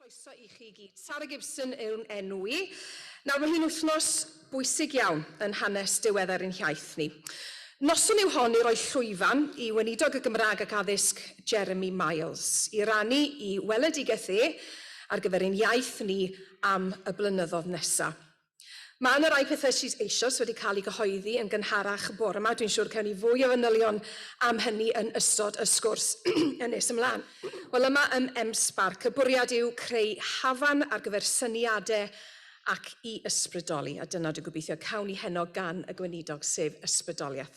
Croeso i chi i gyd. Sara Gibson yw fy enw i. Nawr, mae hi'n wythnos bwysig iawn yn hanes diweddar ein hiaith ni. Noson yw hon i roi llwyfan i Weinidog y Gymraeg ac Addysg Jeremy Miles i rannu i weledigaeth e ar gyfer ein iaith ni am y blynyddodd nesaf. Mae yna rai pethau sydd eisoes wedi cael eu cyhoeddi yn gynharach bore 'ma. Dwi'n siŵr cawn ni fwy o fanylion am hynny yn ystod y sgwrs yn nes ymlaen. Wel, yma ym M-Sparc, y bwriad yw creu hafan ar gyfer syniadau ac i ysbrydoli, a dyna dwi'n gobeithio cawn ni heno gan y Gweinidog, sef ysbrydoliaeth.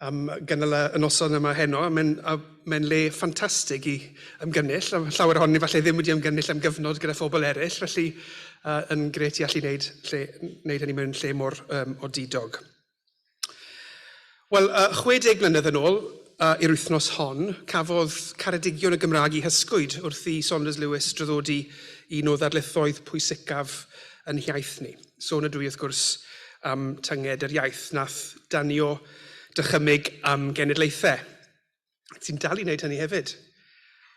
am gynnal y noson yma heno. Mae'n mae le ffantastig i ymgynnull. Llawer ohonyn ni falle ddim wedi ymgynnull am gyfnod gyda phobl eraill, felly uh, yn gret i allu wneud, lle, wneud hynny mewn lle mor um, odidog. Wel, uh, 60 mlynedd yn ôl, uh, i'r wythnos hon, cafodd Caredigion y Gymraeg i hysgwyd wrth i Saunders Lewis draddodi un o ddarlithoedd pwysicaf yn hiaith ni. Sôn ydw i wrth gwrs am tynged yr iaith wnaeth danio dychymyg am genedlaethau, ac sy'n dal i wneud hynny hefyd.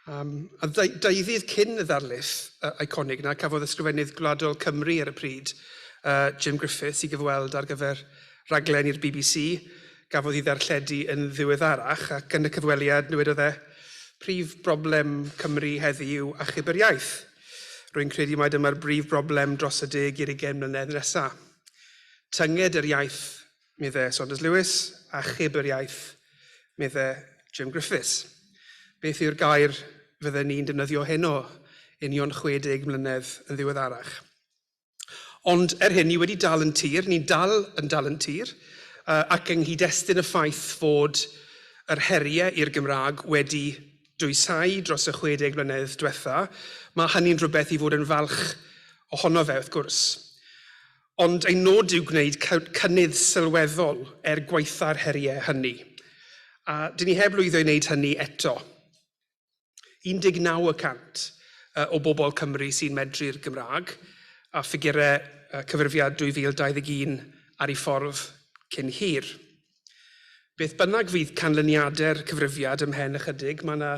Um, a ddeuddydd cyn y ddarlith uh, iconig yna, cafodd ysgrifennydd gwladol Cymru ar y pryd, uh, Jim Griffiths, i gyfweld ar gyfer raglen i'r BBC, gafodd ei ddarlledu yn ddiweddarach, ac yn y cyfweliad, dywedodd e, prif broblem Cymru heddi yw achub yr iaith. Rwy'n credu mai dyma'r brif broblem dros y deg i'r ugain mlynedd nesa. Tynged yr iaith, medde Saunders Lewis, a chyb yr iaith, medde Jim Griffiths. Beth yw'r gair fydden ni'n defnyddio heno, union 60 mlynedd yn ddiweddarach? Ond er hyn, ni wedi dal yn tir, ni'n dal yn dal yn tir, uh, ac yng nghyd-destun y ffaith fod yr heriau i'r Gymraeg wedi dwysau dros y 60 mlynedd diwetha, mae hynny'n rhywbeth i fod yn falch ohono fe, wrth gwrs. Ond ein nod yw gwneud cynnydd sylweddol er gwaetha'r heriau hynny. A dyn ni heb lwyddo i wneud hynny eto. 19 y cant o bobl Cymru sy'n medru'r Gymraeg, a ffigurau cyfrifiad 2021 ar ei ffordd cyn hir. Beth bynnag fydd canlyniadau'r cyfrifiad ymhen ychydig, mae yna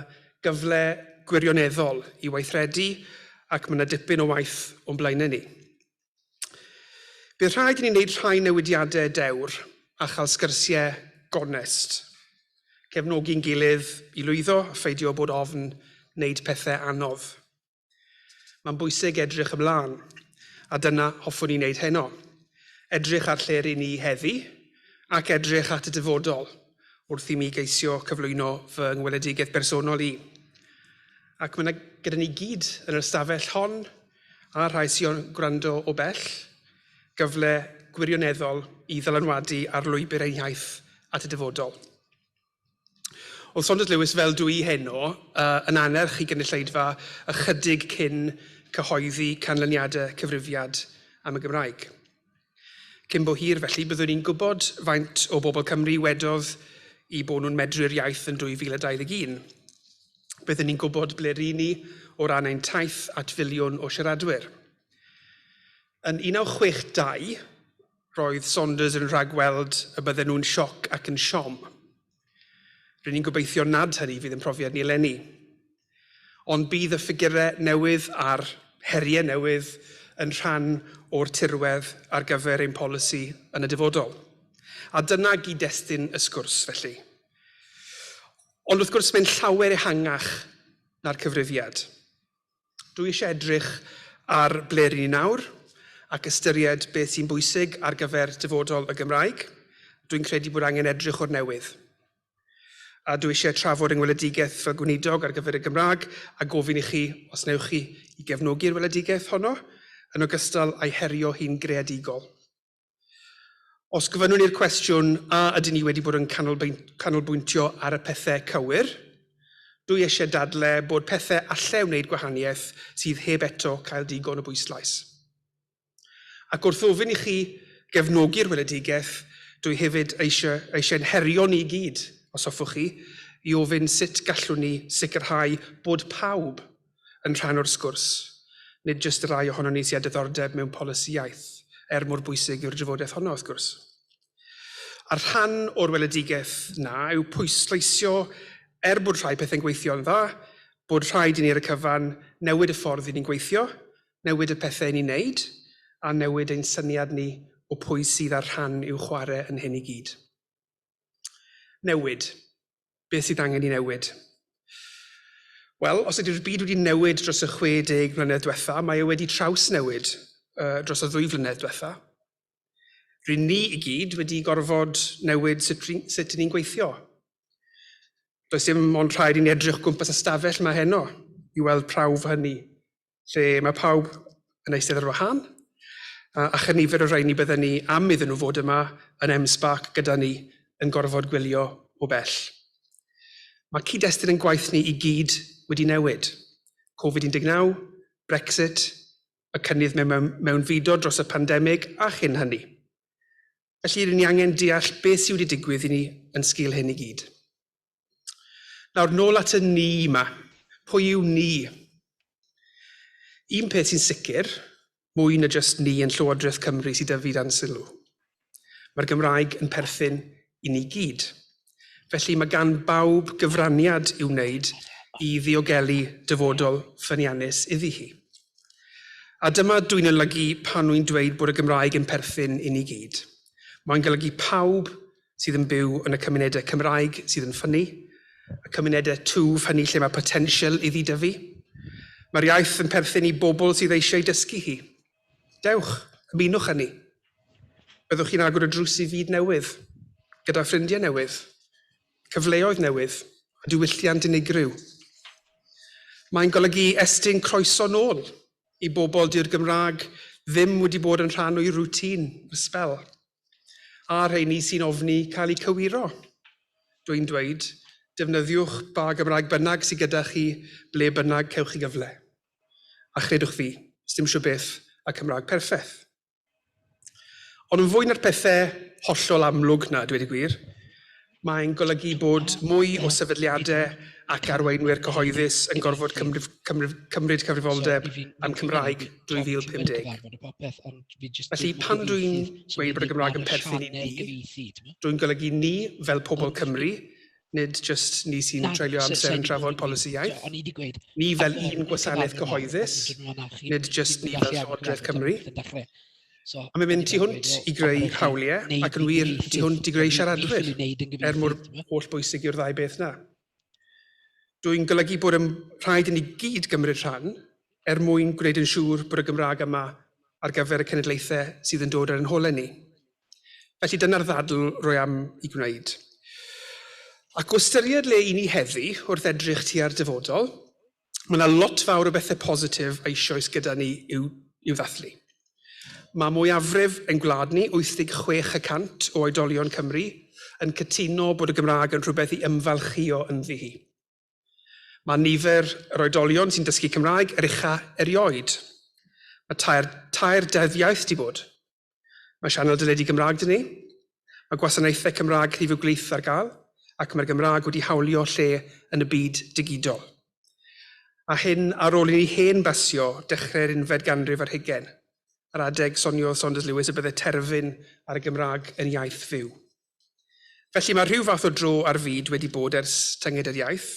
gyfle gwirioneddol i weithredu ac mae yna dipyn o waith o'n blaenau ni. Bydd rhaid i ni wneud rhai newidiadau dewr a chael sgyrsiau gonest. Cefnogi'n gilydd i lwyddo a pheidio bod ofn wneud pethau anodd. Mae'n bwysig edrych ymlaen, a dyna hoffwn i wneud heno. Edrych ar lle ry'n ni heddi ac edrych at y dyfodol wrth i mi geisio cyflwyno fy ngweledigaeth bersonol i. Ac mae yna gyda ni gyd yn yr ystafell hon a rhai sy'n gwrando o bell, gyfle gwirioneddol i ddylanwadu ar lwybr ein hiaith at y dyfodol. Oedd Saunders Lewis, fel dwi heno, uh, yn anerch i gynulleidfa ychydig cyn cyhoeddi canlyniadau cyfrifiad am y Gymraeg. Cyn bo hir felly byddwn ni'n gwybod faint o bobl Cymru wedodd i bod nhw'n medru'r iaith yn 2021. Byddwn ni'n gwybod ble ry'n ni o ran ein taith at filiwn o siaradwyr. Yn 1962, roedd Saunders yn rhagweld y bydden nhw'n sioc ac yn siom. Rydyn ni'n gobeithio nad hynny fydd yn profiad ni eleni. Ond bydd y ffigurau newydd a'r heriau newydd yn rhan o'r tirwedd ar gyfer ein polisi yn y dyfodol. A dyna gyd-destun y sgwrs, felly. Ond wrth gwrs, mae'n llawer ehangach na'r cyfrifiad. Dwi eisiau edrych ar ble rŷn ni nawr ac ystyried beth sy'n bwysig ar gyfer dyfodol y Gymraeg. Dwi'n credu bod angen edrych o'r newydd. A dwi eisiau trafod yng ngweledigaeth fel gweinidog ar gyfer y Gymraeg a gofyn i chi os wnewch chi i gefnogi'r weledigaeth honno, yn ogystal â'i herio hi'n greadigol. Os gofynnwn i'r cwestiwn, a ydyn ni wedi bod yn canolbwyntio ar y pethau cywir? Dwi eisiau dadle bod pethau allai wneud gwahaniaeth sydd heb eto cael digon o bwyslais. Ac wrth ofyn i chi gefnogi'r weledigaeth, dwi hefyd eisiau, eisiau'n herio ni i gyd, os hoffwch chi, i ofyn sut gallwn ni sicrhau bod pawb yn rhan o'r sgwrs, nid jyst y rhai ohonon ni sy â diddordeb mewn polisi iaith, er mor bwysig yw'r drafodaeth honno wrth gwrs. A'r rhan o'r weledigaeth na yw pwysleisio er bod rhai pethau'n gweithio'n dda, bod rhaid i ni ar y cyfan newid y ffordd i ni'n gweithio, newid y pethau i ni'n neud, a newid ein syniad ni o pwy sydd â'r rhan i'w chwarae yn hyn i gyd. Newid. Beth sydd angen i newid? Wel, os ydy'r byd wedi newid dros y 60 mlynedd diwetha, mae e wedi traws newid uh, dros y ddwy flynedd diwetha. Rydyn ni i gyd wedi gorfod newid sut, sut ni'n gweithio. Does dim ond rhaid i ni edrych gwmpas y stafell mae heno i weld prawf hynny. lle mae pawb yn eistedd ar wahân, a, a chyn nifer o rhain ni bydden ni am iddyn nhw fod yma yn M-SParc gyda ni yn gorfod gwylio o bell. Mae cyd-destun yn gwaith ni i gyd wedi newid. Covid-19, Brexit, y cynnydd mewn mewnfudo dros y pandemig a chyn hynny. Felly, rydyn ni angen deall beth sydd wedi digwydd i ni yn sgil hyn i gyd. Nawr, nôl at y ni yma. Pwy yw ni? Un peth sy'n sicr, mwy na just ni yn Llywodraeth Cymru sydd dyfu dan sylw. Mae'r Gymraeg yn perthyn i ni gyd. Felly mae gan bawb gyfraniad i'w wneud i ddiogelu dyfodol ffyniannus iddi hi. A dyma dwi'n olygu pan wy'n dweud bod y Gymraeg yn perthyn i ni gyd. Mae'n golygu pawb sydd yn byw yn y cymunedau Cymraeg sydd yn ffynnu, y cymunedau twf hynny lle mae potensial iddi dyfu. Mae'r iaith yn perthyn i bobl sydd eisiau dysgu hi. Dewch, ymunwch â ni. Byddwch chi'n agor y drws i fyd newydd, gyda ffrindiau newydd, cyfleoedd newydd a diwylliant unigryw. Mae'n golygu estyn croeso nôl i bobl dyw'r Gymraeg ddim wedi bod yn rhan o'i rwtîn ers sbel. A rheini sy'n ofni cael eu cywiro? Dwi'n dweud, defnyddiwch ba Gymraeg bynnag sydd gyda chi ble bynnag cewch chi gyfle. A chredwch fi, sdim shwbeth a Cymraeg perffeth. Ond yn fwy na'r pethe hollol amlwg 'na, dweud y gwir, Mae'n golygu bod mwy o sefydliadau ac arweinwyr cyhoeddus yn gorfod cymryd cyfrifoldeb am Cymraeg 2050. Felly, pan dw i'n dweud bod y Gymraeg yn perthyn i ni, dw i'n golygu ni fel pobl Cymru, nid jyst ni sy'n treulio amser yn trafod polisi iaith, ni fel un gwasanaeth gyhoeddus, nid jyst ni fel Llywodraeth Cymru. A mae'n mynd tu hwnt i greu hawliau ac yn wir, tu hwnt i greu siaradwyr, er mor hollbwysig yw'r ddau beth 'na. Dwyn golygu bod yn rhaid i ni gyd gymryd rhan er mwyn gwneud yn siŵr bod y Gymraeg yma ar gyfer y cenedlaethau sydd yn dod ar ein holau ni. Felly dyna'r ddadl rwy am i gwneud. Ac o ystyried le i ni heddi wrth edrych tua'r dyfodol, mae yna lot fawr o bethau positif eisoes gyda ni i'w, i'w ddathlu. Mae mwyafrif ein gwlad ni, 86 y cant o oedolion Cymru, yn cytuno bod y Gymraeg yn rhywbeth i ymfalchïo ynddi hi. Mae nifer yr oedolion sy'n dysgu Cymraeg yr ucha erioed. Mae tair, tair deddfiaeth di bod. Mae sianel deledu Gymraeg dyn ni, mae gwasanaethau Cymraeg rhif y gwlith ar gael, ac mae'r Gymraeg wedi hawlio lle yn y byd digidol. A hyn ar ôl i ni hen basio dechrau'r unfed ganrif ar hugain. Ar adeg, soniodd Saunders Lewis y byddai terfyn ar y Gymraeg yn iaith fyw. Felly mae rhyw fath o dro ar fyd wedi bod ers tynged yr iaith,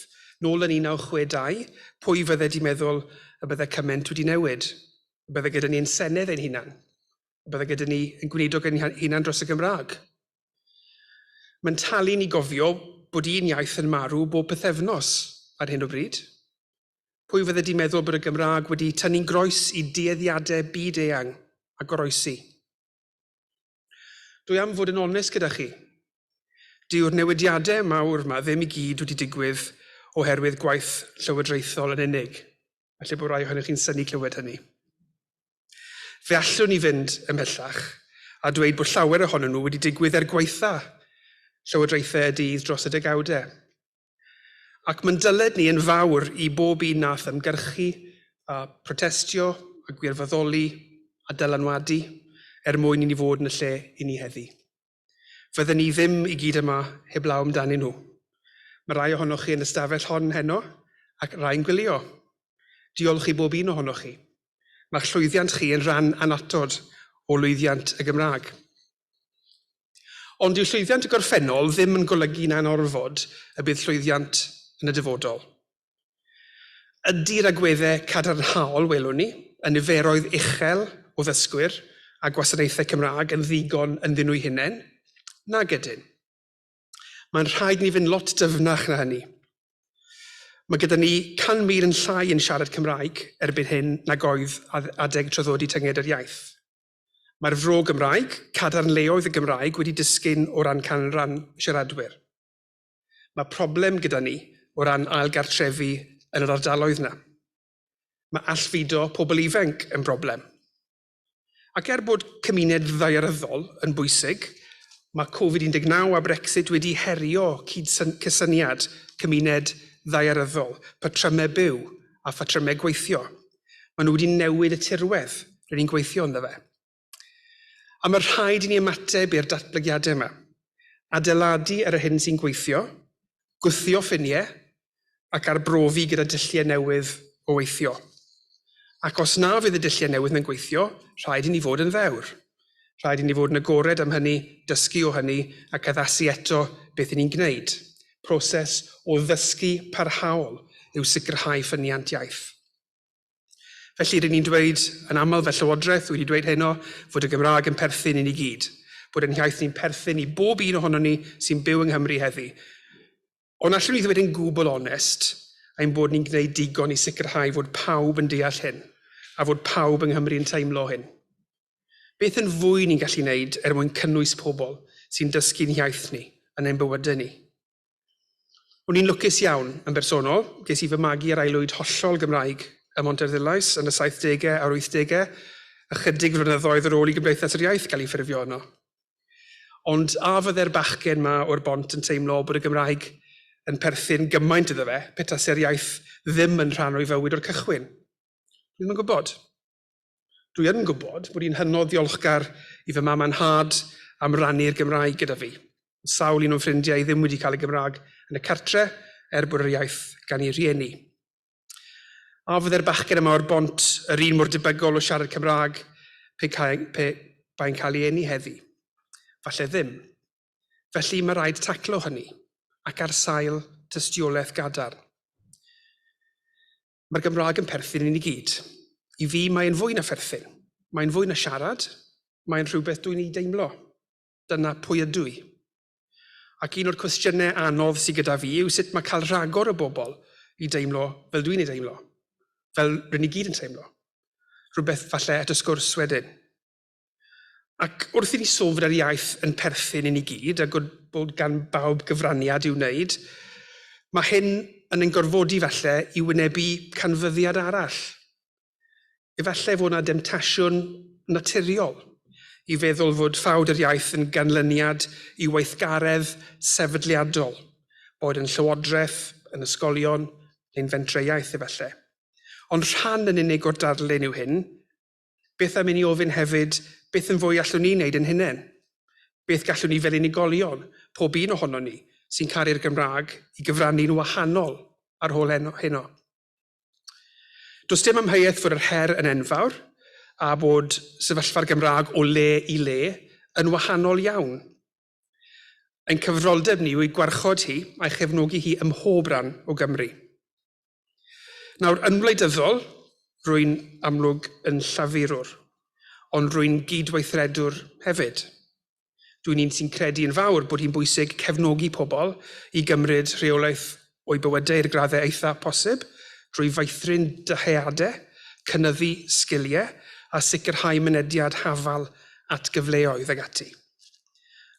nôl yn 1962, pwy fydde di meddwl y bydde cyment wedi newid? Y bydde gyda ni ein Senedd ein hunan? Y bydde gyda ni ein gweinidog ein hunan dros y Gymraeg? Mae'n talu ni gofio bod un iaith yn marw bob pythefnos ar hyn o bryd. Pwy fydde di meddwl bod y Gymraeg wedi tynnu'n groes i dueddiadau byd-eang a goroesi? Dwi am fod yn onest gyda chi. Dyw'r newidiadau mawr yma ddim i gyd wedi digwydd oherwydd gwaith llywodraethol yn unig. Felly bod rai ohonych chi'n syni clywed hynny. Fe allwn ni fynd ymhellach a dweud bod llawer ohonyn nhw wedi digwydd er gwaetha llywodraethau y dydd dros y degawdau. Ac mae'n dyled ni yn fawr i bob un nath ymgyrchu, a protestio, a gwirfoddoli, a dylanwadu, er mwyn i ni fod yn y lle i ni heddi. Fydden ni ddim i gyd yma heblaw amdanyn nhw. Mae rai ohonoch chi yn y stafell hon heno, ac rai'n gwylio. Diolch i bob un ohonoch chi. Mae'ch llwyddiant chi yn rhan anatod o lwyddiant y Gymraeg. Ond dyw llwyddiant y gorffennol ddim yn golygu na'n orfod y bydd llwyddiant yn y dyfodol. Ydy'r agweddau cadarnhaol welwn ni, y niferoedd uchel o ddysgwyr a gwasanaethau Cymraeg yn ddigon ynddyn nhw'u hunain? Nag ydyn. Mae'n rhaid ni fynd lot dyfnach na hynny. Mae gyda ni 100,000 yn llai yn siarad Cymraeg erbyn hyn nag oedd adeg traddodi tynged yr iaith. Mae'r fro Gymraeg, cadarnleoedd y Gymraeg wedi disgyn o ran canran siaradwyr. Mae problem gyda ni o ran ail gartrefi yn yr ardaloedd 'na. Mae allfudo pobl ifenc yn broblem. Ac er bod cymuned ddaearyddol yn bwysig, mae Covid 19 a Brexit wedi herio cydsyn- cysyniad cymuned ddaearyddol, patrymau byw a phatrymau gweithio. Maen nhw wedi newid y tirwedd rydyn ni'n gweithio ynddo fe. A mae rhaid i ni ymateb i'r datblygiadau yma. Adeiladu ar yr hyn sy'n gweithio, gwthio ffiniau ac arbrofi gyda dulliau newydd o weithio. Ac os na fydd y dulliau newydd na'n gweithio, rhaid i ni fod yn ddewr. Rhaid i ni fod yn agored am hynny, dysgu o hynny ac addasu eto beth i ni'n gwneud. Proses o ddysgu parhaol yw sicrhau ffyniant iaith. Felly, rydyn ni'n dweud yn aml fel Llywodraeth, wedi dweud heno, fod y Gymraeg yn perthyn i ni gyd, bod ein hiaith ni'n perthyn i bob un ohonon ni sy'n byw yng Nghymru heddi. Ond allwn i ddweud yn gwbl onest ein bod ni'n gwneud digon i sicrhau fod pawb yn deall hyn, a fod pawb yng Nghymru yn teimlo hyn? Beth yn fwy ni'n gallu wneud er mwyn cynnwys pobl sy'n dysgu'n hiaith ni yn ein bywydau ni? O'n i'n lwcus iawn, yn bersonol, ges i fy magu ar aelwyd hollol Gymraeg ym Mhontarddulais yn y saithdegau a'r wythdegau, ychydig flynyddoedd ar ôl i Gymdeithas yr Iaith gael ei ffurfio yno. Ond a fydde'r bachgen 'ma o'r Bont yn teimlo bod y Gymraeg yn perthyn gymaint iddo fe pe tase'r iaith ddim yn rhan o'i fywyd o'r cychwyn? Dwi ddim yn gwybod. Dwi yn gwybod bod i'n hynod ddiolchgar i fy mam a nhad am rannu'r Gymraeg gyda fi. Mae sawl un o'n ffrindiau i ddim wedi cael y Gymraeg yn y cartre er bod yr iaith gan eu rhieni. A fydde'r bachgen yma o'r bont yr un mor debygol o siarad Cymraeg pe, cae, pe bai'n cael ei eni heddi? Falle ddim. Felly mae rhaid taclo hynny, ac ar sail tystiolaeth gadarn. Mae'r Gymraeg yn perthyn i ni gyd. I fi mae'n fwy na pherthyn. Mae'n fwy na siarad, mae'n rhywbeth dwi'n ei deimlo. Dyna pwy ydw i. Ac un o'r cwestiynau anodd sydd gyda fi yw sut mae cael rhagor o bobl i deimlo fel dwi'n ei deimlo, fel rydyn ni gyd yn teimlo. Rhywbeth falle at y sgwrs wedyn. Ac wrth i ni sôn fod yr iaith yn perthyn i ni gyd a gwrdd bod gan bawb gyfraniad i'w wneud, mae hyn yn ein gorfodi falle i wynebu canfyddiad arall. Efallai fod yna demtasiwn naturiol i feddwl fod ffawd yr iaith yn ganlyniad i weithgaredd sefydliadol, boed yn llywodraeth, yn ysgolion, neu'n fentrau iaith efallai. Ond rhan yn unig o'r darlun yw hyn. Beth am i ni ofyn hefyd, beth yn fwy allwn ni wneud yn hunain? Beth gallwn ni fel unigolion, pob un ohonon ni, sy'n caru'r Gymraeg, i gyfrannu'n wahanol ar hol heno? Does dim amheuaeth fod yr her yn enfawr a bod sefyllfa'r Gymraeg o le i le yn wahanol iawn. Ein cyfroldeb ni yw ei gwarchod hi a'i chefnogi hi ym mhob rhan o Gymru. Nawr, yn wleidyddol, rwy'n amlwg yn llafurwr, ond rwy'n gydweithredwr hefyd. Dwi'n un sy'n credu yn fawr bod hi'n bwysig cefnogi pobl i gymryd rheolaeth o'u bywydau i'r graddau eithaf posib drwy feithrin dyheadau, cynyddu sgiliau a sicrhau mynediad hafal at gyfleoedd ag ati.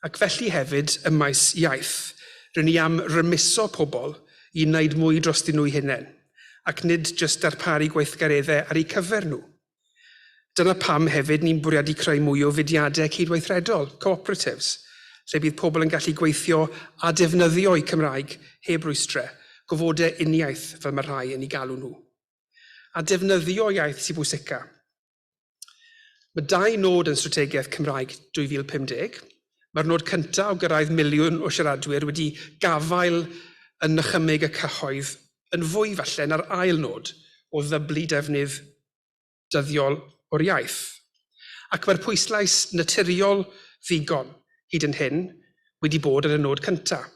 Ac felly hefyd ym maes iaith, ry'n ni am rymuso pobl i wneud mwy drostyn nhw'u hunain, ac nid jyst darparu gweithgareddau ar eu cyfer nhw. Dyna pam hefyd ni'n bwriadu creu mwy o fudiadau cydweithredol, co-operatives, lle bydd pobl yn gallu gweithio a defnyddio'u Cymraeg heb rwystrau, gofodau uniaith fel mae rhai yn ei galw nhw. A defnyddio iaith sy'n bwysicaf. Mae dau nod yn Strategaeth Cymraeg 2050, Mae'r nod cyntaf o gyrraedd miliwn o siaradwyr wedi gafael yn nychymyg y cyhoedd yn fwy falle na'r ail nod o ddyblu defnydd dyddiol o'r iaith. Ac mae'r pwyslais naturiol ddigon, hyd yn hyn, wedi bod ar y nod cyntaf.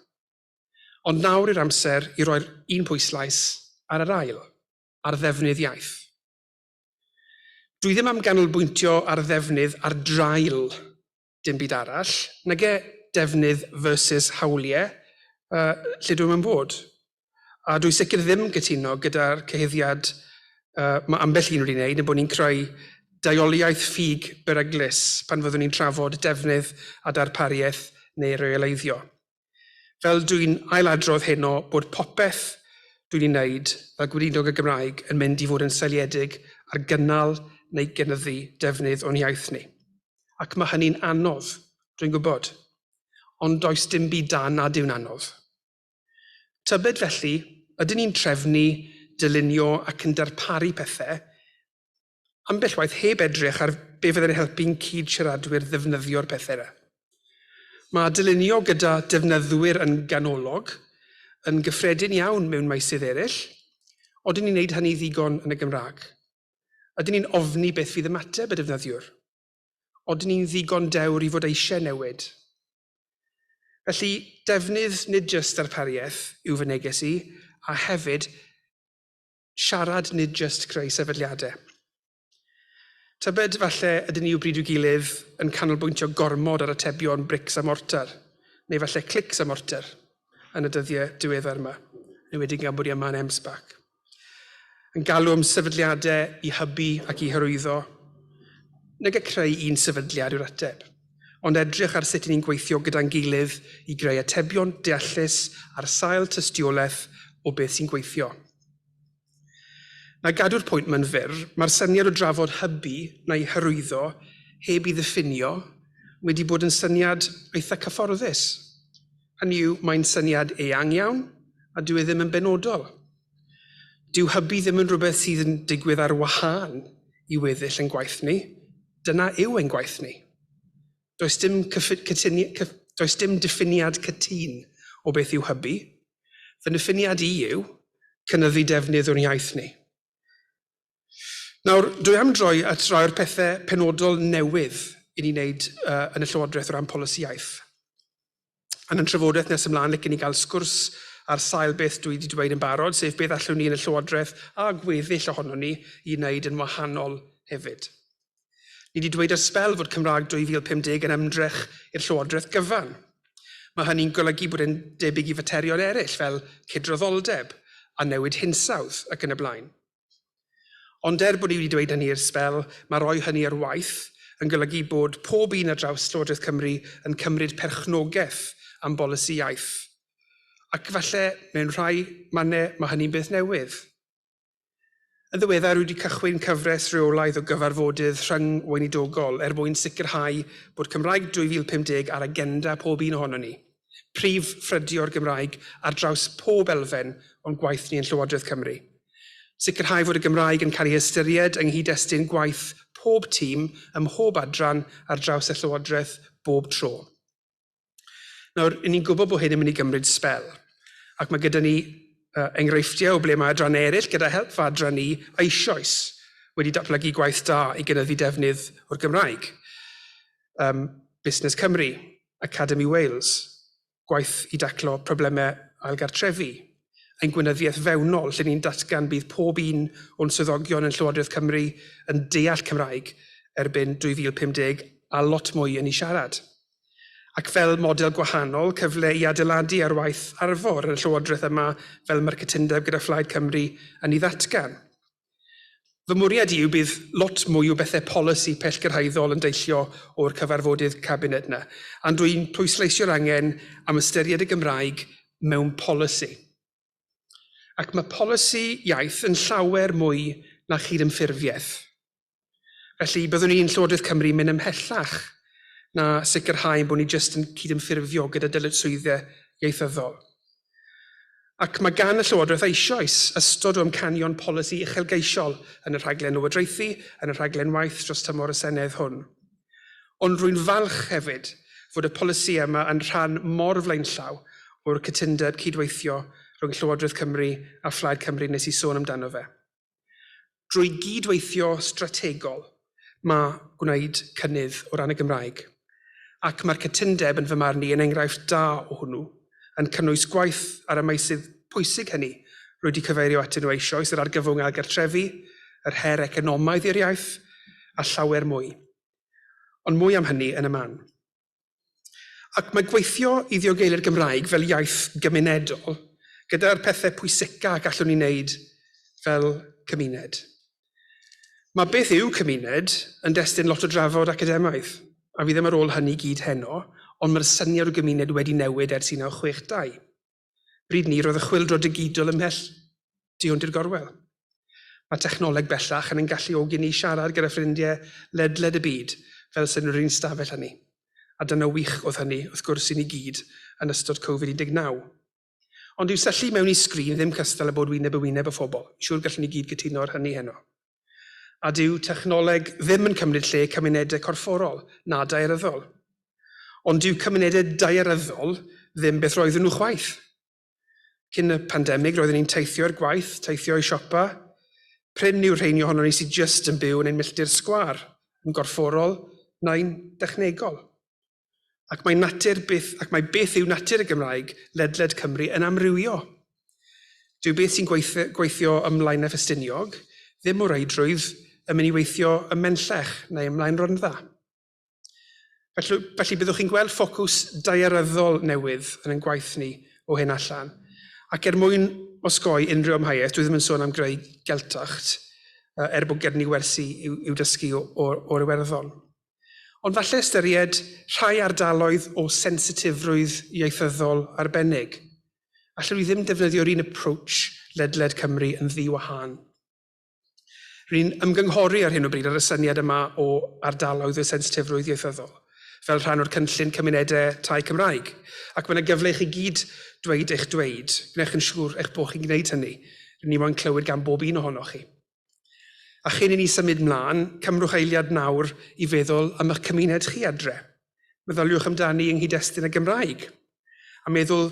Ond nawr yw'r amser i roi'r un pwyslais ar yr ail, ar ddefnydd iaith. Dwi ddim am ganolbwyntio ar ddefnydd ar draul dim byd arall, nage defnydd versus hawliau, yy, lle dwi'm yn bod. A dwi sicr ddim yn cytuno gyda'r cyhuddiad uh, mae ambell un wedi wneud, yn bod ni'n creu daioliaeth ffug beryglus pan fyddwn ni'n trafod defnydd a darpariaeth neu reoleiddio. Fel dwi'n ailadrodd heno bod popeth dwi'n ei wneud fel Gweinidog y Gymraeg yn mynd i fod yn seiliedig ar gynnal neu gynyddu defnydd o'n iaith ni. Ac mae hynny'n anodd, dwi'n gwybod. Ond does dim byd da nad yw'n anodd. Tybed felly, ydyn ni'n trefnu, dylunio ac yn darparu pethau ambell waith heb edrych ar be fydd yn helpu'n cyd-siaradwyr ddefnyddio'r pethau yna. Mae dylunio gyda defnyddwyr yn ganolog yn gyffredin iawn mewn meysydd eraill, odyn ni'n neud hynny ddigon yn y Gymraeg? Ydyn ni'n ofni beth fydd ymateb y defnyddiwr? Odyn ni'n ddigon dewr i fod eisiau newid? Felly, defnydd nid jyst darpariaeth yw fy neges i, a hefyd, siarad, nid jyst creu sefydliadau. Tybed falle ydyn ni o bryd i'w gilydd yn canolbwyntio gormod ar atebion brics a mortar, neu falle clics a mortar, yn y dyddiau diweddar yma, yn wedi gan bod i yma yn MSPAC. Yn galw am sefydliadau i hybu ac i hyrwyddo, nag y creu un sefydliad yw'r ateb. ond edrych ar sut 'y ni'n gweithio gyda'n gilydd i greu atebion deallus ar sail tystiolaeth o beth sy'n gweithio. Na gadw'r pwynt ma'n fyr, mae'r syniad o drafod hybu neu hyrwyddo heb i ddiffinio wedi bod yn syniad eitha cyfforddus. Hynny yw, mae'n syniad eang iawn a dyw e ddim yn benodol. Dyw hybu ddim yn rhywbeth sydd yn digwydd ar wahân i weddill yn gwaith ni, Dyna yw ein gwaith ni. Does dim, cyffin, cytuni, cyff, does dim diffiniad cytun o beth yw hybu. Fy niffiniad i yw cynyddu defnydd o'n iaith ni. Nawr, dwi am droi at rai o'r pethau penodol newydd i ni wneud uh, yn y Llywodraeth o ran polisi iaith. yn y trafodaeth nes ymlaen, licen i gael sgwrs ar sail beth dwi wedi dweud yn barod, sef beth allwn ni yn y Llywodraeth a gweddill ohonon ni i wneud yn wahanol hefyd. Ni wedi dweud ar sbel fod Cymraeg 2050 yn ymdrech i'r Llywodraeth gyfan. Mae hynny'n golygu bod e'n debyg i faterion eraill fel cydraddoldeb a newid hinsawdd ac yn y blaen. Ond er bod ni wedi dweud hynny i'r sbel, mae rhoi hynny ar waith yn golygu bod pob un ar draws Llywodraeth Cymru yn cymryd perchnogaeth am bolisi iaith. Ac falle, mewn rhai mannau, mae hynny'n beth newydd. Yn ddiweddar, rwy wedi cychwyn cyfres reolaidd o gyfarfodydd rhyng-weinidogol er mwyn sicrhau bod Cymraeg 2050 ar agenda pob un ohonon ni. prif ffrydio o'r Gymraeg ar draws pob elfen o'n gwaith ni yn Llywodraeth Cymru. Sicrhau fod y Gymraeg yn cael ei ystyried yng nghyd-destun gwaith pob tîm ym mhob adran ar draws y Llywodraeth bob tro. Nawr, ni'n gwybod bod hyn yn mynd i gymryd sbel, ac mae gyda ni uh, enghreifftiau o ble mae adran eraill, gyda help fy adran ni, eisoes wedi datblygu gwaith da i gynyddu defnydd o'r Gymraeg. Um, Busnes Cymru, Academi Wales, gwaith i daclo problemau ailgartrefi, ein gweinyddiaeth fewnol lle ni'n datgan bydd pob un o'n swyddogion yn Llywodraeth Cymru yn deall Cymraeg erbyn 2050 a lot mwy yn ei siarad. Ac fel model gwahanol, cyfle i adeiladu ar waith Arfor yn y Llywodraeth yma fel mae'r cytundeb gyda Phlaid Cymru yn ei ddatgan. Fy mwriad i yw bydd lot mwy o bethau polisi pellgyrhaeddol yn deillio o'r cyfarfodydd Cabinet yna, ond rwy'n pwysleisio'r angen am ystyried y Gymraeg mewn polisi. Ac mae polisi iaith yn llawer mwy na chydymffurfiaeth. Felly, byddwn ni'n Llywodraeth Cymru mynd ymhellach na sicrhau bod ni jyst yn cydymffurfio gyda dyletswyddau ieithyddol. Ac mae gan y Llywodraeth eisoes ystod o amcanion polisi uchelgeisiol yn y rhaglen lywodraethu, yn y rhaglen waith dros tymor y Senedd hwn. Ond rwy'n falch hefyd fod y polisi yma yn rhan mor flaenllaw o'r cytundeb cydweithio rhwng Llywodraeth Cymru a Phlaid Cymru nes i sôn amdano fe. Drwy gyd-weithio strategol, mae gwneud cynnydd o ran y Gymraeg, ac mae'r cytundeb yn fy marn i yn enghraifft da o hwnnw, yn cynnwys gwaith ar y meysydd pwysig hynny rwy 'di cyfeirio atyn nhw eisoes, yr argyfwng ailgartrefu, yr her economaidd i'r iaith, a llawer mwy. Ond mwy am hynny yn y man. Ac mae gweithio i ddiogeli'r Gymraeg fel iaith gymunedol gyda'r pethau pwyseca gallwn ni wneud fel cymuned. Mae beth yw cymuned yn destun lot o drafod academaidd, a fi ddim ar ôl hynny gyd heno, ond mae'r syniad o gymuned wedi newid ers 1962. Bryd ni, roedd y chwyldro digidol ymhell tu hwnt i'r gorwel. Mae technoleg bellach yn ein galluogi ni i siarad gyda ffrindiau ledled y byd fel sef yn yr un stafell â ni, a dyna wych oedd hynny, wrth gwrs, i ni gyd yn ystod Covid 19. Ond dyw syllu mewn i sgrin ddim cystal â bod wyneb yn wyneb â phobl, siŵr gallwn ni gyd gytuno ar hynny heno. A dyw technoleg ddim yn cymryd lle cymunedau corfforol na daearyddol. Ond dyw cymunedau daearyddol ddim beth roedden nhw chwaith. Cyn y pandemig roedden ni'n teithio i'r gwaith, teithio i siopa. Prin yw'r rheini ohonon ni sydd jyst yn byw yn ein milltir sgwâr, yn gorfforol neu'n dechnegol. ac mae natur beth ac mae beth yw natur y Gymraeg ledled Cymru yn amrywio. Dyw beth sy'n gweithio, gweithio ymlaen y Ffestiniog ddim o reidrwydd yn mynd i weithio ym Menllech neu ymlaen Rondda. Felly, felly byddwch chi'n gweld ffocws daearyddol newydd yn ein gwaith ni o hyn allan. Ac er mwyn osgoi unrhyw amheuaeth, dwi ddim yn sôn am greu geltacht, er bod gen ni wersi i'w, i'w dysgu o'r Iwerddon. Ond falle ystyried rhai ardaloedd o sensitifrwydd ieithyddol arbennig. Allwn ni ddim defnyddio'r un approach ledled Cymru yn ddi-wahân. Rwy'n ymgynghori ar hyn o bryd ar y syniad yma o ardaloedd o sensitifrwydd ieithyddol fel rhan o'r cynllun cymunedau tai Cymraeg, ac mae yna gyfle i chi gyd dweud eich dweud. Gwnewch yn siŵr eich bod chi'n gwneud hynny. Rwy'n ni moyn clywed gan bob un ohonoch chi. A chyn i ni symud mlaen, cymrwch eiliad nawr i feddwl am eich cymuned chi adre. Meddyliwch amdani yng nghyd-destun y Gymraeg, a meddwl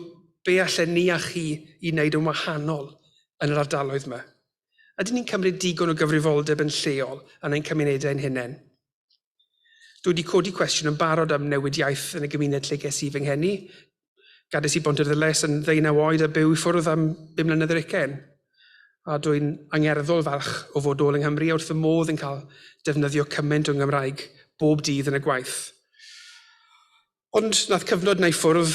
be allen ni a chi i wneud yn wahanol yn yr ardaloedd yma. Ydyn ni'n cymryd digon o gyfrifoldeb yn lleol yn ein cymunedau ein hunain? Dwi wedi codi cwestiwn yn barod am newid iaith yn y gymuned lle ges i fy ngheni. Gades i Bontarddulais yn ddeunaw oed a byw i ffwrdd am bum mlynedd yr ugain. A dwi'n angerddol falch o fod ôl yng Nghymru a wrth fy modd yn cael defnyddio cymaint o Nghymraeg bob dydd yn y gwaith. Ond wnaeth cyfnod 'na i ffwrdd,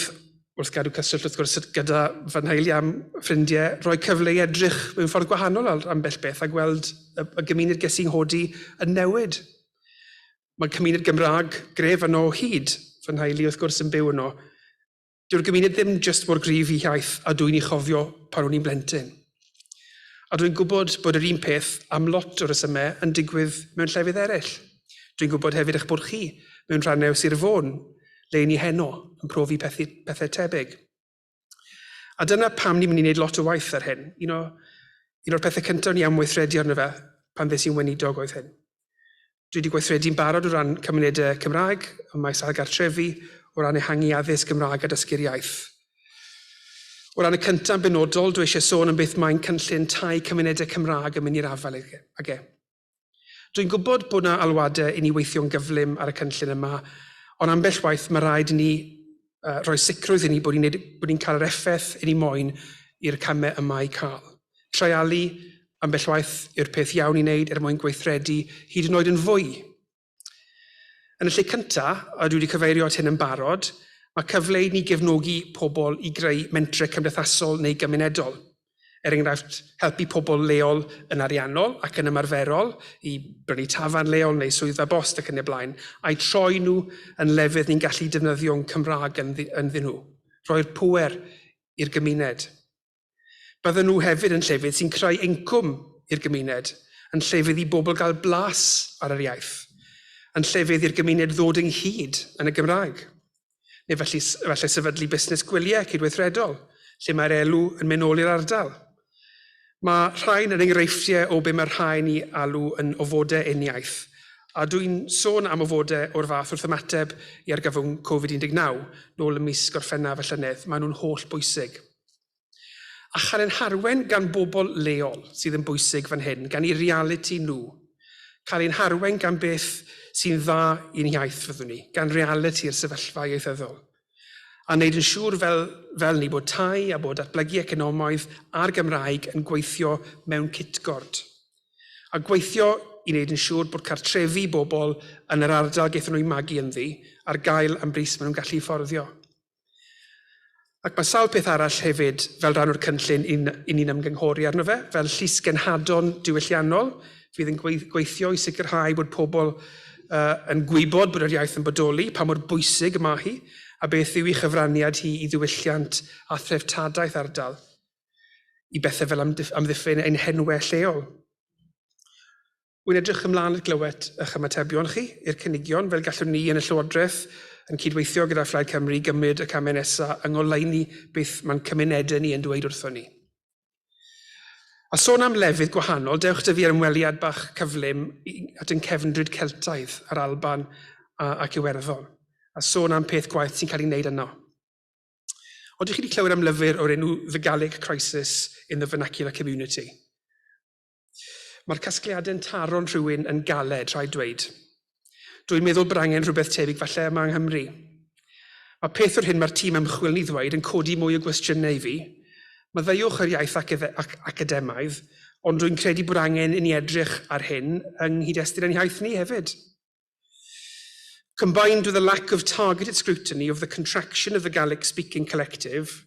wrth gadw cyswllt wrth gwrs gyda fy nheulu a'm ffrindiau, roi cyfle i edrych mewn ffordd gwahanol ar ambell beth a gweld y y gymuned ges i'n nghodi yn newid. Mae cymuned Gymraeg gref yno o hyd, fy nheulu wrth gwrs yn byw yno. Dyw'r gymuned ddim jyst mor gryf i hiaith a dw i'n ei chofio pan o'n i'n blentyn. A dwi'n gwybod bod yr un peth am lot o resymau yn digwydd mewn llefydd eraill. Dwi'n gwybod hefyd eich bod chi, mewn rhannau o Sir Fôn, le i ni heno, yn profi pethu, pethau tebyg. A dyna pam ni'n mynd i wneud lot o waith ar hyn. Un o, un o'r pethau cyntaf ni am weithredu arno fe pan ddes i'n weinidog oedd hyn. Dwi wedi gweithredu'n barod o ran cymunedau Cymraeg ym maes ail gartrefi, o ran ehangu addysg Gymraeg a dysgu'r iaith. O ran y cyntaf yn benodol, dwi eisiau sôn am beth mae'n cynllun tai cymunedau Cymraeg yn mynd i'r afael ag e. Ag e. Dwi'n gwybod bod yna alwadau i ni weithio'n gyflym ar y cynllun yma, ond ambell waith mae rhaid i ni uh, rhoi sicrwydd i ni bod ni'n bod ni'n cael yr effaith i ni moyn i'r camau yma i cael. Treialu ambell waith yw'r peth iawn i wneud er mwyn gweithredu hyd yn oed yn fwy. Yn y lle cyntaf, a dwi wedi cyfeirio at hyn yn barod, mae cyfle i ni gefnogi pobl i greu mentre cymdeithasol neu gymunedol. Er enghraifft, helpu pobl leol yn ariannol ac yn ymarferol i brynu tafarn leol neu swyddfa bost ac yn y blaen, a'u troi nhw yn lefydd ni'n gallu defnyddio'n Cymraeg ynddyn nhw. Rhoi'r pŵer i'r gymuned. Bydden nhw hefyd yn llefydd sy'n creu incwm i'r gymuned, yn llefydd i bobl gael blas ar yr iaith, yn llefydd i'r gymuned ddod ynghyd yn y Gymraeg. neu felly, efallai sefydlu busnes gwyliau cydweithredol, lle mae'r elw yn mynd nôl i'r ardal. Mae rhain yn enghreifftiau o be mae rhain i alw yn ofodau uniaith, a dwi'n sôn am ofodau o'r fath wrth ymateb i argyfwng Covid-19 nôl ym mis Gorffennaf y llynedd. Maen nhw'n holl bwysig. A chael ein harwain gan bobl leol sydd yn bwysig fan hyn, gan eu realiti nhw. Cael ein harwain gan beth sy'n dda i'n iaith, fyddwn ni, gan realiti'r sefyllfa ieithyddol. A wneud yn siŵr fel, fel ni bod tai a bod datblygu economaidd a'r Gymraeg yn gweithio mewn cytgord. A gweithio i wneud yn siŵr bod cartrefi bobl yn yr ardal gaethon nhw'u magu ynddi ar gael am bris maen nhw'n gallu fforddio. Ac mae sawl peth arall hefyd fel rhan o'r cynllun i'n, i ni'n ymgynghori arno fe, fel llys genhadon diwylliannol fydd yn gweithio i sicrhau bod pobl uh, yn gwybod bod yr iaith yn bodoli, pa mor bwysig y mae hi, a beth yw ei chyfraniad hi i ddiwylliant a threftadaeth ardal, i bethau fel amddiffyn ein henwau lleol. Wy'n edrych ymlaen at glywed eich ymatebion chi i'r cynigion fel gallwn ni yn y Llywodraeth, yn cydweithio gyda Phlaid Cymru, gymryd y camau nesaf yng ngoleuni beth mae'n cymunedau ni yn dweud wrthon ni. A sôn am lefydd gwahanol, dewch 'da fi ar ymweliad bach cyflym at ein cefndryd Celtaidd a'r Alban ac Iwerddon, a sôn am peth gwaith sy'n cael ei wneud yno. Ond chi wedi clywed am lyfr o'r enw The Gallic Crisis in the Vernacular Community? Mae'r casgliadau'n taro'n rhywun yn galed, rhaid dweud. Dwi'n meddwl bod angen rhywbeth tebyg falle yma yng Nghymru. Mae peth o'r hyn mae'r tîm ymchwil ni ddweud yn codi mwy o gwestiynau i fi. Maddeuwch yr iaith academaidd, ond rwy'n credu bod angen i ni edrych ar hyn yng nghyd-destun ein hiaith ni hefyd. Combined with a lack of targeted scrutiny of the contraction of the Gaelic-speaking collective,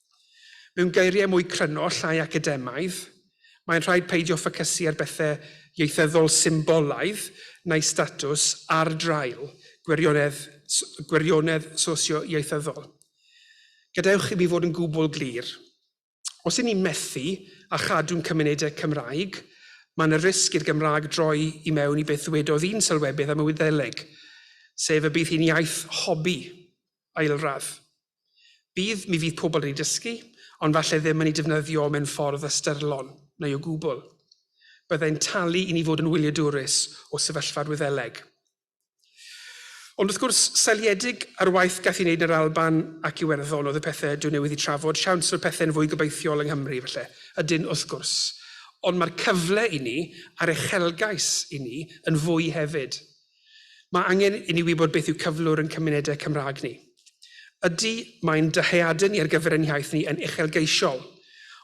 Mewn geiriau mwy cryno, llai academaidd, mae'n rhaid peidio ffocysu ar bethau ieithyddol symbolaidd neu statws ar draul gwirionedd, gwirionedd sosio-ieithyddol. Gadewch i mi fod yn gwbl glir. Os y'n ni'n methu â chadw'n cymunedau Cymraeg, mae yna risg i'r Gymraeg droi i mewn i beth ddywedodd un sylwebydd am y Wyddeleg, sef y bydd hi'n iaith hobi, ailradd. Bydd, mi fydd pobl wedi dysgu, ond falle ddim yn ei defnyddio mewn ffordd ystyrlon, neu o gwbl. Byddai'n talu i ni fod yn wyliadwrus o sefyllfa'r Wyddeleg. Ond wrth gwrs, seliedig ar waith gath i wneud yn yr Alban ac Iwerddon oedd y pethau dwi newydd eu trafod, siawns fod pethau'n fwy gobeithiol yng Nghymru, falle. Ydyn, wrth gwrs. Ond mae'r cyfle i ni, a'r uchelgais i ni, yn fwy hefyd. Mae angen i ni wybod beth yw cyflwr yn cymunedau Cymraeg ni. Ydy, mae'n dyheadau ni ar gyfer ein hiaith ni yn uchelgeisiol,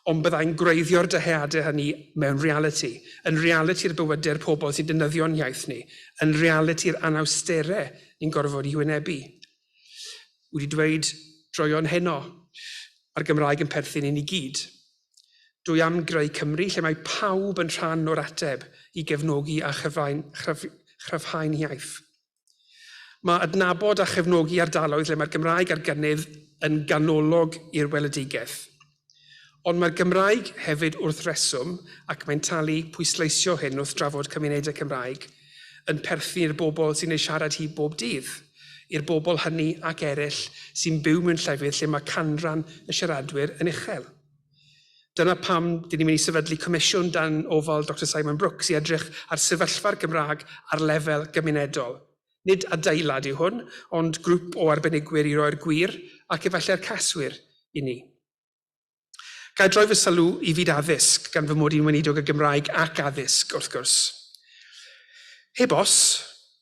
ond byddai'n gwreiddio'r dyheadau hynny mewn realiti, yn realiti'r bywydau'r pobl sy'n defnyddio'n hiaith ni, yn realiti'r anawsterau ni'n gorfod i hwynebu. Wedi dweud droeon heno, mae'r Gymraeg yn perthyn i ni gyd. Dwi am greu Cymru lle mae pawb yn rhan o'r ateb i gefnogi a chryfhau'n, chryf, chryfhau'n iaith. Mae adnabod a chefnogi ardaloedd lle mae'r Gymraeg ar gynnydd yn ganolog i'r weledigaeth. Ond mae'r Gymraeg hefyd wrth reswm ac mae'n talu pwysleisio hyn wrth drafod cymunedau Cymraeg yn perthyn i'r bobl sy'n ei siarad hi bob dydd, i'r bobl hynny ac eraill sy'n byw mewn llefydd lle mae canran y siaradwyr yn uchel. Dyna pam dyn ni'n mynd i sefydlu comisiwn dan ofal Doctor Simon Brooks i edrych ar sefyllfa'r Gymraeg ar lefel gymunedol. Nid adeilad yw hwn, ond grŵp o arbenigwyr i roi'r gwir, ac efallai'r caswir, i ni. Ga i droi fy sylw i fyd addysg, gan fy mod i'n weinidog y Gymraeg ac addysg, wrth gwrs. Heb os,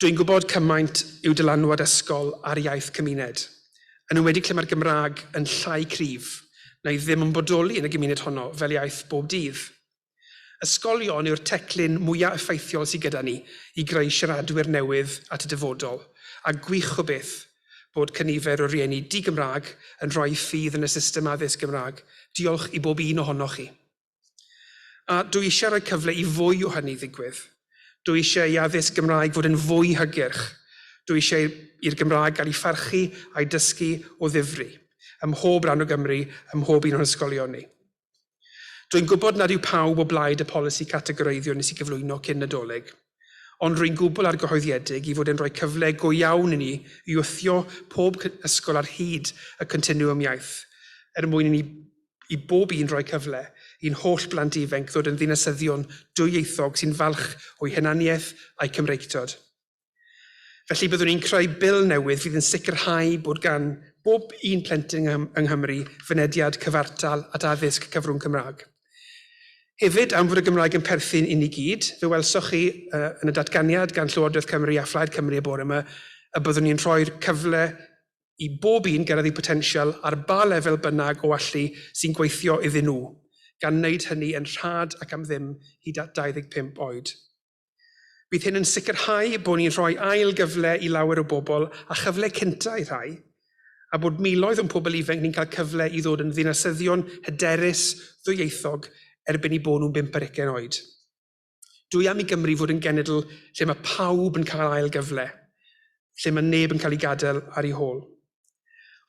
dwi'n gwybod cymaint yw dylanwad ysgol ar iaith cymuned, yn enwedig lle mae'r Gymraeg yn llai cryf, na'i ddim yn bodoli yn y gymuned honno fel iaith bob dydd. Ysgolion yw'r teclyn mwya effeithiol sy gyda ni i greu siaradwyr newydd at y dyfodol, a gwych o beth bod cynifer o rieni di-Gymraeg yn rhoi ffydd yn y system addysg Gymraeg, diolch i bob un ohonoch chi. A dw i eisiau rhoi cyfle i fwy o hynny ddigwydd. Dw i eisiau i addysg Gymraeg fod yn fwy hygyrch. Dw i eisiau i'r Gymraeg gael ei pharchu a'i dysgu o ddifri, ym mhob rhan o Gymru, ym mhob un o'n hysgolion ni. Rwy'n gwybod nad yw pawb o blaid y polisi categoreiddio nes i gyflwyno cyn Nadolig, ond rwy'n gwbl argyhoeddiedig i fod e'n rhoi cyfle go iawn i ni i wthio pob ysgol ar hyd y continwwm iaith er mwyn i ni i bob un roi cyfle i'n holl blant ifenc ddod yn ddinasyddion dwyieithog sy'n falch o'u hunaniaeth a'u Cymreictod. Felly byddwn ni'n creu bil newydd fydd yn sicrhau bod gan bob un plentyn yng Nghymru fynediad cyfartal at addysg cyfrwng Cymraeg. Hefyd, am fod y Gymraeg yn perthyn i ni gyd, fe welsoch chi uh, yn y datganiad gan Llywodraeth Cymru a Phlaid Cymru y bore yma y byddwn ni'n rhoi'r cyfle i bob un gyrraedd eu potensial ar ba lefel bynnag o allu sy'n gweithio iddyn nhw, gan wneud hynny yn rhad ac am ddim hyd at 25 oed. Bydd hyn yn sicrhau bod ni'n rhoi ail gyfle i lawer o bobl a chyfle cyntaf i rhai, a bod miloedd o'n pobl ifanc ni'n cael cyfle i ddod yn ddinasyddion hyderus, ddwyieithog, erbyn i bod nhw'n bump ar ugain oed. Dwi am i Gymru fod yn genedl lle mae pawb yn cael ail gyfle, lle mae neb yn cael ei gadael ar ei hôl.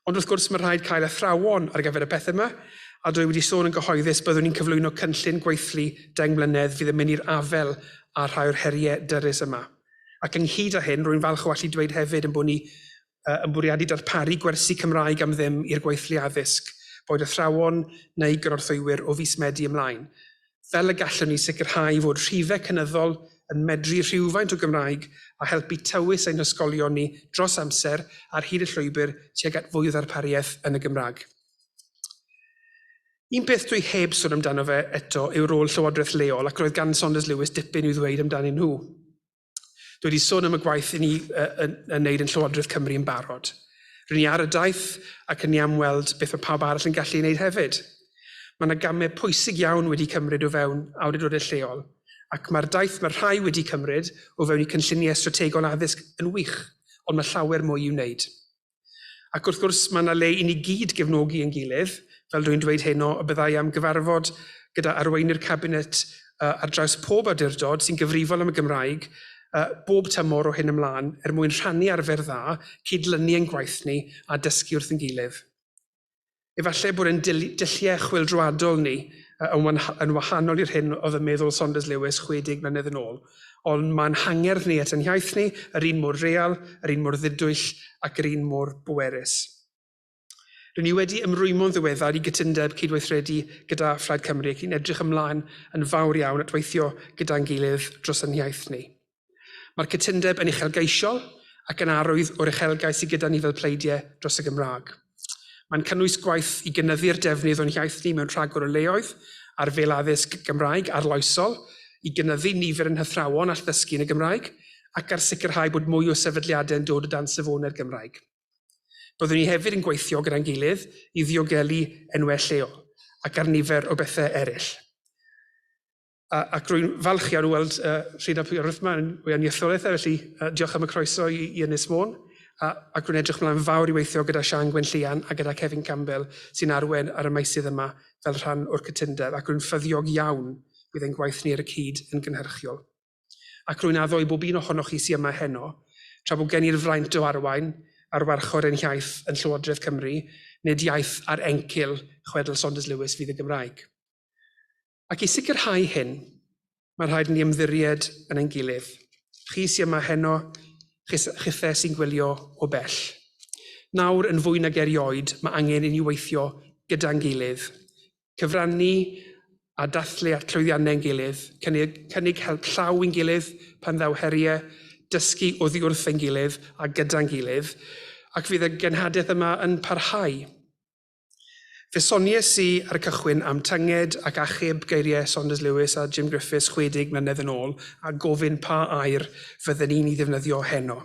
Ond wrth gwrs, mae'n rhaid cael athrawon ar gyfer y pethau yma, a dwi wedi sôn yn gyhoeddus byddwn ni'n cyflwyno cynllun gweithlu deng mlynedd fydd yn mynd i'r afael â rhai o'r heriau dyrys yma. Ac ynghyd â hyn, rwy'n falch o allu dweud hefyd ein bod ni yn bwriadu darparu gwersi Cymraeg am ddim i'r gweithlu addysg, boed athrawon neu gynorthwywyr, o fis Medi ymlaen. fel y gallwn ni sicrhau fod rhifau cynyddol yn medru rhywfaint o Gymraeg a helpu tywys ein hysgolion ni dros amser ar hyd y llwybr tuag at fwy o ddarpariaeth yn y Gymraeg. Un peth dwi heb sôn amdano fe eto yw rôl llywodraeth leol ac roedd gan Saunders Lewis dipyn i'w ddweud amdanyn nhw. Dwi wedi sôn am y gwaith i ni uh, yn, yn neud yn Llywodraeth Cymru yn barod. Rydyn ni ar y daith ac yn ni am weld beth mae pawb arall yn gallu ei wneud hefyd. Mae yna gamau pwysig iawn wedi cymryd o fewn awdurdodau lleol, ac mae'r daith mae rhai wedi cymryd o fewn i cynlluniau strategol addysg yn wych, ond mae llawer mwy i'w wneud. Ac wrth gwrs, mae yna le i ni gyd gefnogi yn gilydd, fel rwy'n dweud heno, y byddai am gyfarfod gyda arweinydd Cabinet uh, ar draws pob awdurdod sy'n gyfrifol am y Gymraeg uh, bob tymor o hyn ymlaen er mwyn rhannu arfer dda, cydlynu ein gwaith ni a dysgu wrth yn gilydd. Efallai bod ein dulliau chwyldroadol ni yn wahanol i'r hyn oedd yn meddwl Saunders Lewis 60 mlynedd yn ôl, ond mae'n hangerdd ni at ein hiaith ni, yr un mor real, yr un mor ddidwyll ac yr un mor bwerus. Rydyn ni wedi ymrwymo'n ddiweddar i gytundeb cydweithredu gyda Phlaid Cymru ac yn edrych ymlaen yn fawr iawn at weithio gyda'n gilydd dros ein hiaith ni. Mae'r cytundeb yn uchelgeisiol ac yn arwydd o'r uchelgais sydd gyda ni fel pleidiau dros y Gymraeg. Mae'n cynnwys gwaith i gynyddu'r defnydd o'n hiaith ni mewn rhagor o leoedd ar fel addysg Gymraeg arloesol, i gynyddu nifer yn hythrawon all ddysgu yn y Gymraeg ac ar sicrhau bod mwy o sefydliadau yn dod o dan safonau'r Gymraeg. Byddwn ni hefyd yn gweithio gyda'n gilydd i ddiogelu enwau lleol ac ar nifer o bethau eraill. A, ac rwy'n falch iawn o weld uh, Rhyd ap Iorwthma yn wyau nietholaeth, e, felly uh, diolch am y croeso i, i Ynys Môn. A, ac rwy'n edrych mlaen fawr i weithio gyda Sian Gwenllian a gyda Kevin Campbell sy'n arwen ar y maisydd yma fel rhan o'r cytundeb ac rwy'n ffyddiog iawn bydd ein gwaith ni ar y cyd yn gynhyrchiol. Ac rwy'n addo i bob un ohonoch chi sy'n yma heno, tra bod gen i'r fraint o arwain ar warchod ein hiaith yn Llywodraeth Cymru, nid iaith ar encil chwedl Saunders Lewis fydd y Gymraeg. Ac i sicrhau hyn, mae rhaid ni ymddiried yn ein gilydd. Chi sy'n yma heno, chithe sy'n gwylio o bell. Nawr, yn fwy nag erioed, mae angen i ni weithio gyda'n gilydd, cyfrannu a dathlu at llwyddiannau ein gilydd, cynnig, cynnig help llaw i'n gilydd pan ddaw heriau, dysgu oddi wrth ein gilydd a gyda'n gilydd, ac fydd y genhadaeth yma yn parhau. Fe soniais i ar y cychwyn am tynged ac achub geiriau Saunders Lewis a Jim Griffiths 60 mlynedd yn ôl a gofyn pa air fydden i'n ei ddefnyddio heno.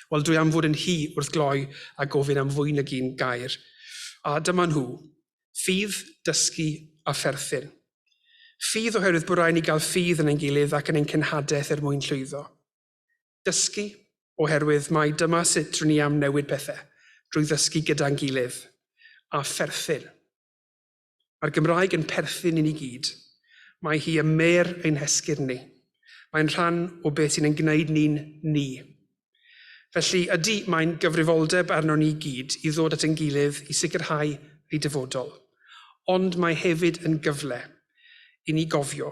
Wel, dwi am fod yn hi wrth gloi a gofyn am fwy nag un gair. A dyma nhw. Ffydd, dysgu a pherthyn. Ffydd oherwydd bod rhaid ni gael ffydd yn ein gilydd ac yn ein cenhadaeth er mwyn llwyddo. Dysgu, oherwydd mai dyma sut rŷn ni am newid pethau, drwy ddysgu gyda'n gilydd. A pherthyn. Mae'r Gymraeg yn perthyn i ni gyd. Mae hi ym mêr ein hesgyrn ni. Mae'n rhan o beth sy'n ein gwneud ni'n ni. Felly, ydy, mae'n gyfrifoldeb arnon ni gyd i ddod at ein gilydd i sicrhau ei dyfodol. Ond mae hefyd yn gyfle i ni gofio